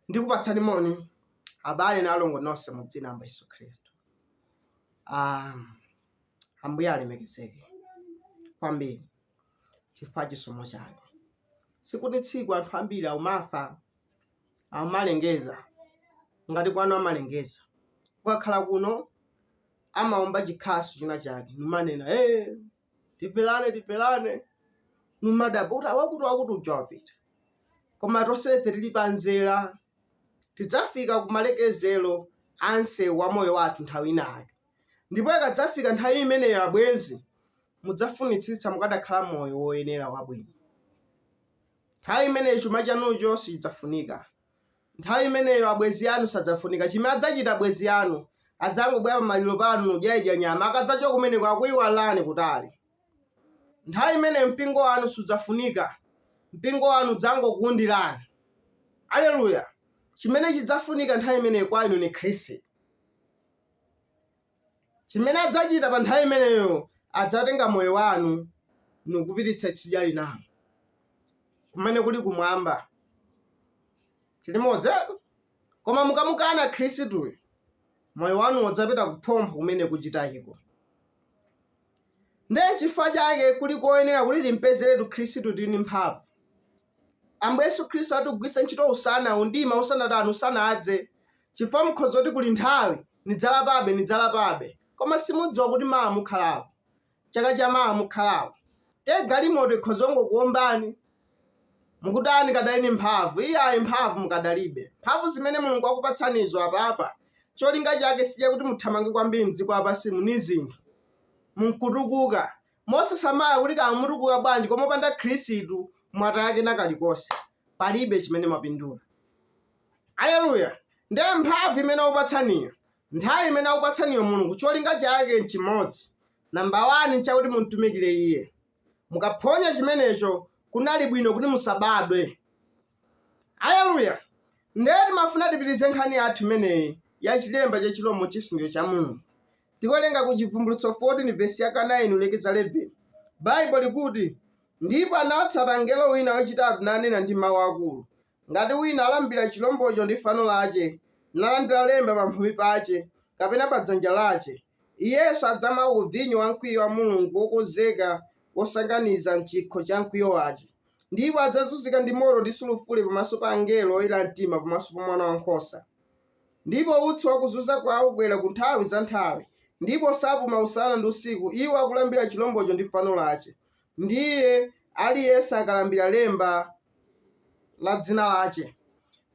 ndikupatsani moni abale na alongo nonse mu dzina la Yesu Khristu. Ah, Ambuye alemekezeke kwambiri chifukwa chisomo chake. Tsiku ni tsiku anthu ambiri akumafa amalengeza ngati kwanu amalengeza kukakhala kuno amaomba chikhasu china chake numanena hey, timvelane timvelane numadabwa kuti a wakuti wakuti uja wapita koma tonsefe tili panzera tidzafika kumalekezero a nseu wa moyo wathu nthawi inayake ndipo ikadzafika nthawi imeneyo abwenzi mudzafunitsitsa mukadakhala moyo woyenera wabwino Nthawi imeneyo chuma chanucho sichidzafunika. Nthawi imeneyo abwenzi anu sadzafunika. Chimene adzachita abwenzi anu, adzangobwera pamaliro panu nudyaidya nyama. Akadzachoka kumeneko akuiwalani kutali. Nthawi imeneyo mpingo wanu sudzafunika. Mpingo wanu udzangokuundirani. Aleluya! Chimene chidzafunika nthawi imeneyo kwa inu ni Khristu. Chimene adzachita pa nthawi imeneyo, adzatenga moyo wanu nukupititsa tsidya linalo, kumene kuli kumwamba. Tilimodzetu? Koma mukamukana Khristuyo, moyo wanuwo udzapita kuphompho kumene kuchitayiko. Ndiye n'chifukwa chake kuli koyenera kuti timpezeretu Khristu tili ndi mphamvu. Ambuye Yesu Khristu atigwiritse ntchito usana mdima usanatani usanadze chifukwa mukhoza kuti kuli nthawi nidzalapabe nidzalapabe koma simudziwa kuti mawa mukhalapo chaka cha mawa mukhalapo te galimoto ikhoza kungokuombani mukutani kadali ni mphamvu iyayi mphamvu mukadalibe mphamvu zimene mulungu akupatsanizo apapa cholinga chake sichakuti muthamange kwambiri mdziko lapansimu ni zinthu munkutukuka Mosasamala kuti kaya mutukuka bwanji koma opanda Khristu mwataya kena kalikonse. Palibe chimene mwapindula. Aleluya! Ndiye mphamvu imene akupatsaniyo, nthawi imene akupatsaniyo Mulungu cholinga chake n'chimodzi. Number 1 n'chakuti mum'tumikire Iye. Mukaphonya chimenecho kunali bwino kuti musabadwe. Aleluya! Nde timafuna tipitilize nkhani yathu imeneyi ya chilemba cha chirombo n'chisindikizo cha Mulungu. Tikuwerenga ku Chibvumbulutso 14 vesi yaka 9 kulekeza 11. Baibulo likuti, Ndipo anawatsata mngelo wina wachitatu nanena ndi mau akuru, Ngati wina alambira chirombocho ndi fano lache, nalandira lemba pamphumi pache, kapena pa dzanja lache, iyenso adzamwa ku vinyo wa mkwiyo wa Mulungu wokonzeka wosanganiza m'chikho cha mkwiyo wache. Ndipo adzazunzika ndi moto ndi sulufure pamaso pa angelo oyera mtima, pamaso pa Mwana wa Nkhosa. Ndipo utsi wa kuzunza kwao ukwera ku nthawi za nthawi, ndipo sapuma usana ndi usiku iwo akulambira chilombocho ndi fano lace, ndiye aliyense akalandira lemba la dzina lace.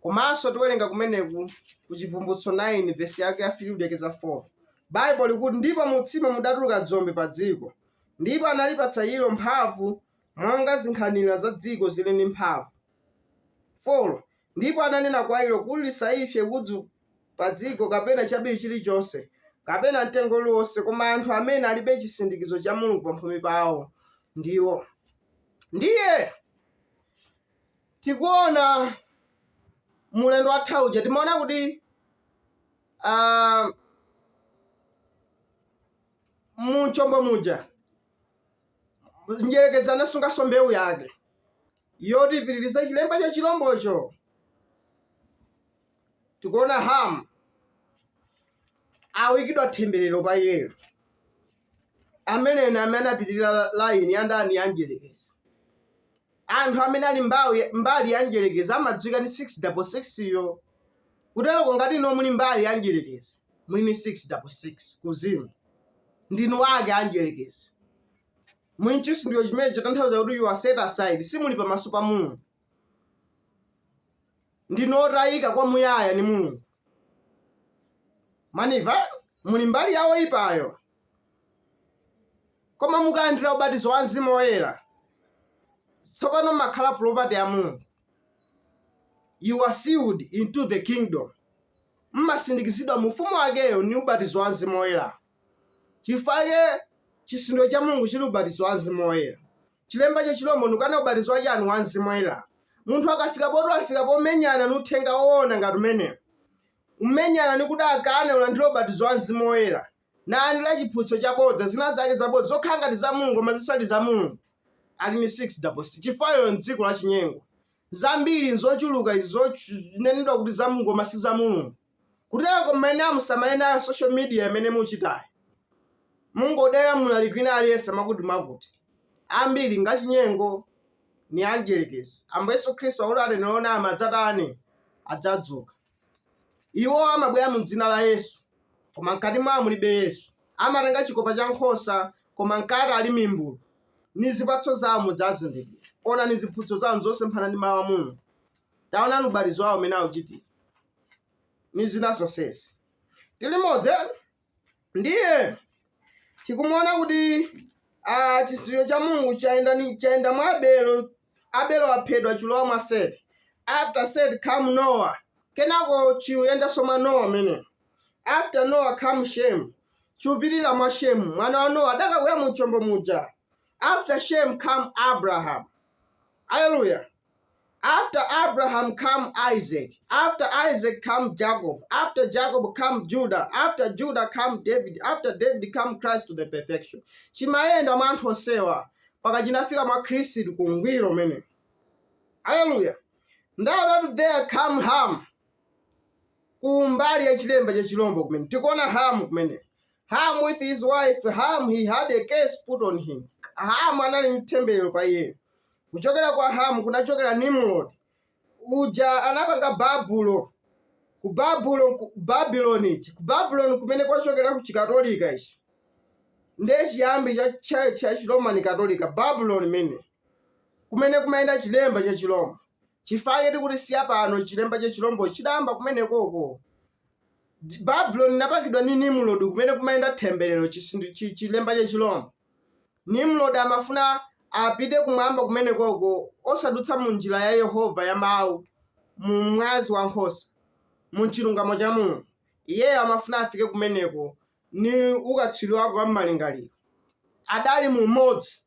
Komanso tiwerenga kumeneku ku Chivumbulutso 9 vesi yake ya 3 kulekeza 4. Baibulo likuti, ndipo mu utsimo mudatuluka dzombe padziko, ndipo analipatsa ilo mphamvu monga zinkhanira za dziko ziri ndi mphamvu, 4 ndipo ananena kwa ilo kuti lisaipse udzu padziko, kapena chabiriwiri chilichonse, kapena mtengo uliwonse, koma anthu amene alibe chisindikizo cha Mulungu pamphumi pawo ndiwo. Ndiye tikuona ulendo watha uja timaona kuti ah, mu chombo muja mdyerekezi anasunganso mbewu yake yoti ipitirize chilemba cha chilombocho tikuona hamu akuikidwa themberero pa iyeyo amene ena amene anapitirira laini ya ndani ya mdyerekezi Anthu amene ali mbawi, mbali ya mdyerekezi amadziwika ndi 6 double 6 yo. Kuteroko ngati inuyo muli mbali ya mdyerekezi, muli ndi 6 double 6 kuuzimu. Ndinu ake a mdyerekezi. Muli nchisindikizo chimene chotanthauza kuti you are set aside, simuli pamaso pa Mulungu. Ndinu otayika kwa muyaya ndi Mulungu. Mwandimva? Muli mbali ya oipayo. Koma mukalandira ubatizo wa Mzimu Woyera, tsopano makhala property ya Mulungu. You are sealed into the kingdom. Mmasindikizidwa mu ufumu wakeyo ni ubatizo wa Mzimu Woyera. Chifukwake chisindikizo cha Mulungu chili ubatizo wa Mzimu Woyera. Chilemba cha chilombo nkukana ubatizo wa chanu wa Mzimu Woyera. Munthu akafika poti wafika pomenyana ni uthenga woona ngati umenewu. Umenyana ni kuti akane ulandire ubatizo wa Mzimu Woyera. nali la chiphunzitso chabodza, zinazake zabodza, zokhala ngati za Mulungu koma zisali za Mulungu, ali ni 6 double 6, chifukwa lero m'dziko la chinyengo, zambiri n'zochuluka izi zonenedwa kuti za Mulungu koma si za Mulungu. Kutero mmene musamale nayo social media imene muchitayi. Mungodyera mlaliki wina aliyense mwakuti-mwakuti. Ambiri ngachinyengo ni amdyerekezi. Ambuye Yesu Khristu akuti aneneri onama adzatani? Adzadzuka. Iwo amabwera mu Dzina la Yesu, koma mkati mwawo mulibe Yesu. Amatenga chikopa cha nkhosa, koma mkati ali mimbulu. Ndi zipatso zawo mudzazindikira. Onani ziphunzitso zawo nzosemphana ndi Mawu a Mulungu. Taonani ubatizo wawo umene akuchitira, ndi zina zonsezi. Tili limodzi? ndiye tikumuona kuti ah, chisindikizo cha mulungu chayenda ni- chayenda mwa abelo abelo aphedwa chilowa mwa seti after seti came noah kenako chiyendanso mwa noah ameneyo after noah came shemu chipitirira mwa shemu mwana wa noah adakabwera mu chombo muja After Shem come Abraham. Hallelujah. After Abraham come Isaac. After Isaac come Jacob. After Jacob come Judah. After Judah come David. After David come Christ to the perfection. Chimayenda mwa anthu onsewa mpaka chinafika mwa Khristu ku ngwiro umene. Hallelujah. Now that there come Ham. Ku mbali ya chilemba cha chilombo kumene. Tikuona Ham kumene. Ham with his wife Ham he had a curse put on him. Ham anali ndi themberero pa iye. Kuchokera kwa Ham kunachokera Nimrod. Uja anapanga Babulo. Ku Babulo ku Babylon ichi. Ku Babylon kumene kwachokera ku Chikatolika ichi. Ndiye chiyambi cha Chiroma ni Katolika Babylon imene kumene kumayenda chilemba cha chirombo. Chifukwa choti kuti si ya pano chilemba cha chirombo chidayamba kumenekoko. D- babulo linapangidwa ndi nimrod kumene kumayenda themberero chisindu- chi- chilemba cha chilombo nimrod amafuna apite kumwamba kumene koko osadutsa mu njira ya yehova ya mawu mu mwazi wa nkhosa mu chilungamo cha mulungu iyeyo amafuna afike kumeneko ni ukatswiri wake wa mmalingaliro adali mu umodzi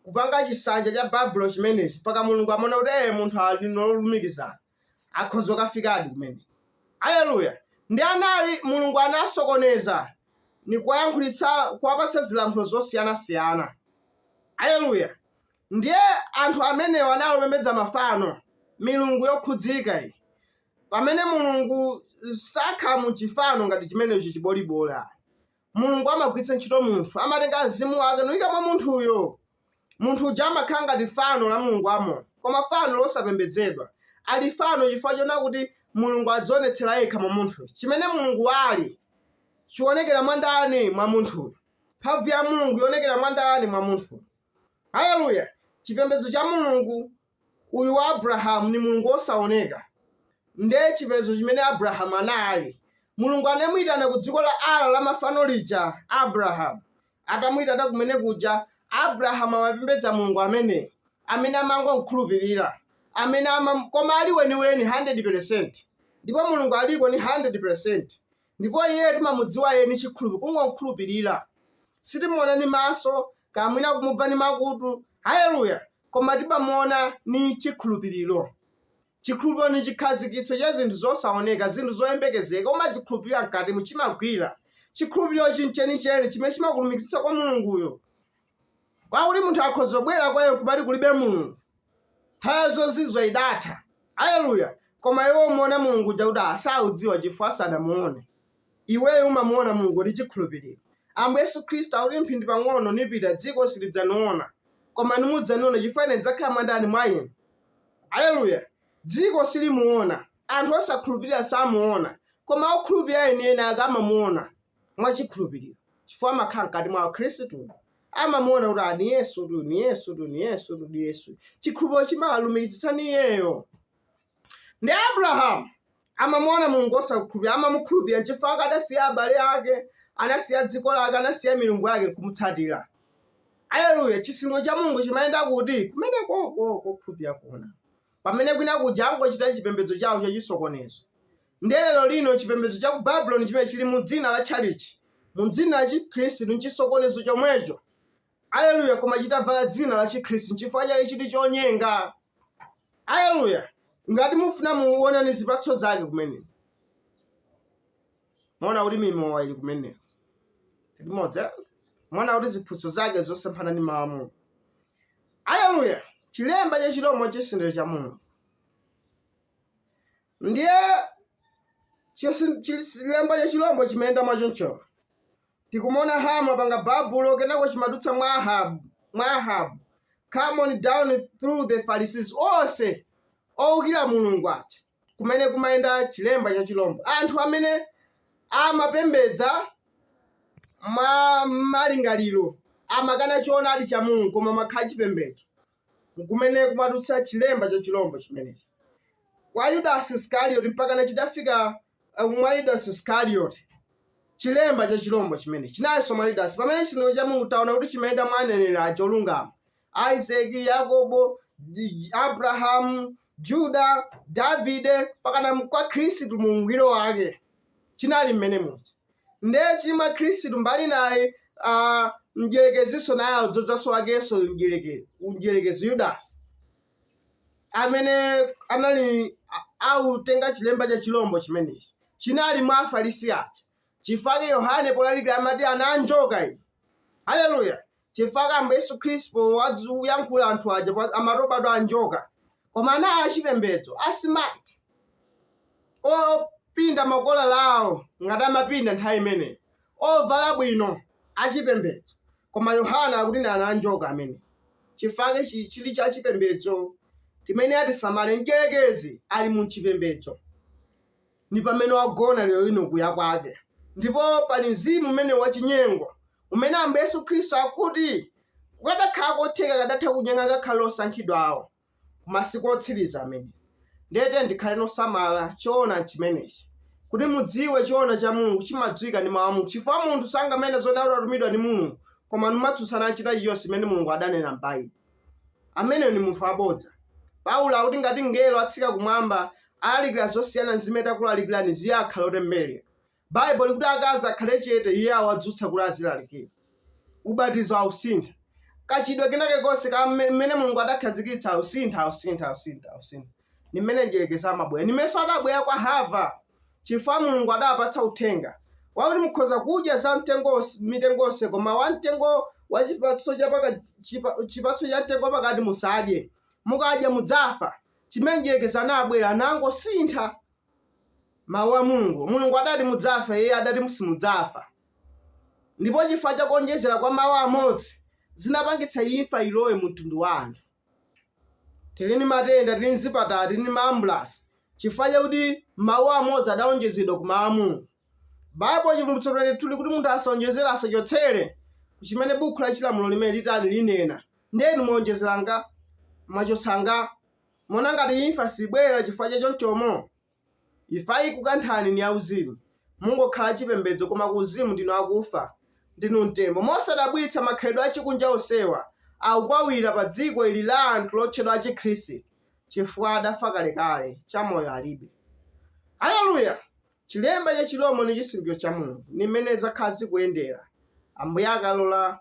kupanga chisanja cha babulo chimenechi mpaka mulungu amaona kuti ee munthu ali nolumikizana akhoza kukafikadi kumene aleluya ndi anali mulungu anasokoneza ni kuwayankhulitsa kuwapatsa zilankhulo zosiyanasiyana aleluya ndiye anthu amenewo anali opembedza mafano milungu yokhudzika iyi pamene mulungu sakhala mu chifano ngati chimenecho chibolibola mulungu amagwiritsa ntchito munthu amatenga mzimu wake nkuika mwa munthuyo Munthu uja amakhala ngati fano la mulungu wamoyo, koma fano losapembedzedwa. Ali fano chifukwa chonena kuti Mulungu adzionetsera yekha mwa munthuyo. Chimene Mulungu ali, chionekera mwa ndani? Mwa munthuyo. Mphamvu ya Mulungu ionekera mwa ndani? Mwa munthuyo. Haleluya! Chipembedzo cha Mulungu Uyu wa Abrahamu ni Mulungu wosaoneka. Nde chipembedzo chimene Abrahamu anali, Mulungu anamuitana ku dziko la Ara la mafano lija, Abrahamu. Atamuitana kumene kuja, Abrahamu amapembedza Mulungu ameneyu, amene amangomkhulupirira, amene amam, koma ali weniweni 100 pelesenti. Ndipo Mulungu aliko ni 100 pelesenti. ndipo iye timamudziwa iye ni chikhulupi kungomkhulupirira sitimuona ni maso kapena kumubva ni makutu haleluya koma timamuona ni chikhulupiriro chikhulupiriro ni chikhazikitso cha zinthu zosaoneka zinthu zoyembekezeka umazikhulupirira mkatimu chimagwira chikhulupiriro chenicheni chimene chimakulumikizitsa kwa mulunguyo kwakuti munthu akhoza kubwera kwa iye kumati kulibe mulungu nthawi zozizwa idatha aleluya koma iwe umamuona mulungu uja kuti asaudziwa chifukwa asanamuone iweyo umamuona mulungu ndi chikhulupiriro ambuye yesu khristu akuti mphindi pang'ono nipita dziko silidzaniona koma nimudzaniona chifukwa ine ndidzakhala mwandani mwa inu aleluya dziko silimuona anthu osakhulupirira samuona koma okhulupirira enieni ake amamuona mwa chikhulupiriro, chifukwa amakhala mkati mwa Akhristu, amamuona kuti ah, ni Yesu tu, ni Yesu tu, ni Yesu tu, ni Yesu. Chikhulupiriro chimalumikizitsa ni iyeyo. Ndi Abrahamu amamuona Mulungu osakhulupirira, amamukhulupirira nchifukwa chake adasiya abale ake, anasiya dziko lake, anasiya milungu yake nkumutsatira. Aleluya, chisindikizo cha Mulungu chimayenda kuti kumenekoko kokhulupirira kuona. pamene kwina kuja angochita chipembedzo chawo chachisokonezo. Ndiye lero lino chipembedzo cha ku Babuloni chimene chili mu dzina la tchalitchi, mu dzina la Chikhristu, n'chisokonezo chomwecho. Aleluya! Koma chitavala dzina la Chikhristu, n'chifukwa chake chili chonyenga. Aleluya! Ngati mufuna muone ni zipatso zake kumeneko. mwaona kuti mimowa ili kumeneko limodzi eh? mwaona kuti ziphunzitso zake zosemphana ndi mawu a mulungu aleluya chilemba cha chilombo chisindikizo cha mulungu ndiye chisi- chi- chilemba cha chilombo chimayenda mwachoncho tikumaona hamu apanga babulo kenako chimadutsa mwa ahabu mwa ahabu come on down through the pharisees onse owukira mulungu aja kumene kumayenda chilemba cha chilombo anthu amene amapembedza mwa malingaliro amakana choonadi cha mulungu koma amakhala chipembedzo kumene kumadutsa chilemba cha chilombo chimenechi kwa yudasi iskarioti mpakana chidafika uh, mwa yudasi iskarioti chilemba cha chilombo chimenechi chinalinso mwa yudasi pamene chisindikizo cha mulungu taona kuti chimayenda mwa aneneri aja olungama Isake, Yakobo, D- Abrahamu, Juda, Davide pakana kwa Khristu mu ungwiro wake chinali mmene muja ndiye chili mwa Khristu mbali naye ah, mdierekezinso naye adzodzaso wakenso mdiereke- mdierekezi Yudasi amene anali a- akutenga chilemba cha chilombo chimenechi chinali mwa Afarisi aja chifukwa chake yohane polalikira amati ana a njoka inu haleluya chifukwa chake ambuye yesu khristu poyankhula anthu aja pa- amati obadwa a njoka koma anali achipembedzo a smart opinda makolala awo ngati amapinda nthawi imeneyo ovala bwino achipembedzo koma yohane akuti ndi ana a njoka amene chifukwa chake chi- chili cha chipembedzo chimene tisamale mdyerekezi ali mu chipembedzo ndi pamene wagona liwu lino kuya kwake. Ndipo pali mzimu umene wachinyengo umene Ambuye Yesu Khristu akuti kukadakhala kotheka akadatha kunyenga ngakhale osankhidwa awo ku masiku otsiriza amene. Ndiye tiyeni tikhale nosamala choona chimenechi kuti mudziwe choona cha Mulungu chimadziwika ndi mawu a Mulungu chifukwa munthu sanganene zoti adatumidwa ndi Mulungu koma namatsutsana ndi china chilichonse chimene Mulungu adanena m'Baibulo. Ameneyo ndi munthu wabodza. Paulo akuti ngati mngelo atsika kumwamba alalikira zosiyana ndi zimene takulalikirani iye akhale wotembereredwa. Baibulo likuti akazi akhale chete iye awadzutsa kuti azilalikira. Ubatizo ausintha. Kachitidwe kena kalikonse ka mme- mmene Mulungu adakhazikitsa ausintha, ausintha, ausintha, ausintha. Ndi mmene mdyerekezi amabwera. Ndi mmenenso adabwera kwa Hava. chifukwa Mulungu adawapatsa uthenga wakuti mukhoza kudya za mtengo mitengo yonse koma wa mtengo wa chipatso cha paka chipa, chipatso cha mtengo pakati musadye mukadya mudzafa chimene mdyerekezi anabwera anangosintha mawu a mulungu mulungu adati mudzafa iye adati musimudzafa ndipo chifukwa cha kuonjezera kwa mawu amodzi zinapangitsa imfa ilowe mu mtundu wa anthu Tili ndi matenda, tili ndi zipatala, tili ndi maambulansi chifukwa chakuti mawu amodzi adawonjezedwa ku Mawu a Mulungu. Baibulo, Chivumbulutso 22, likuti munthu asawonjezere, asachotsere ku chimene bukhu la chilamulo limeneli litani, linena. Ndiye inu mwawonjezera angati? Mwachotsa angati? Muona ngati imfa sibwera chifukwa cha chonchomo? Imfa ikukanthani ni yauzimu. Mungokhala achipembedzo koma kuuzimu ndinu akufa. Ndinu mtembo. Mosadabwitsa makhalidwe achikunja onsewa akukhalira padziko ili la anthu lotchedwa Achikristu, chifukwa adafa kalekale, chamoyo alibe. Aleluya! Chilemba cha chirombo ni chisindikizo cha Mulungu. Ni mmene zakhala zikuyendera, Ambuye akalola.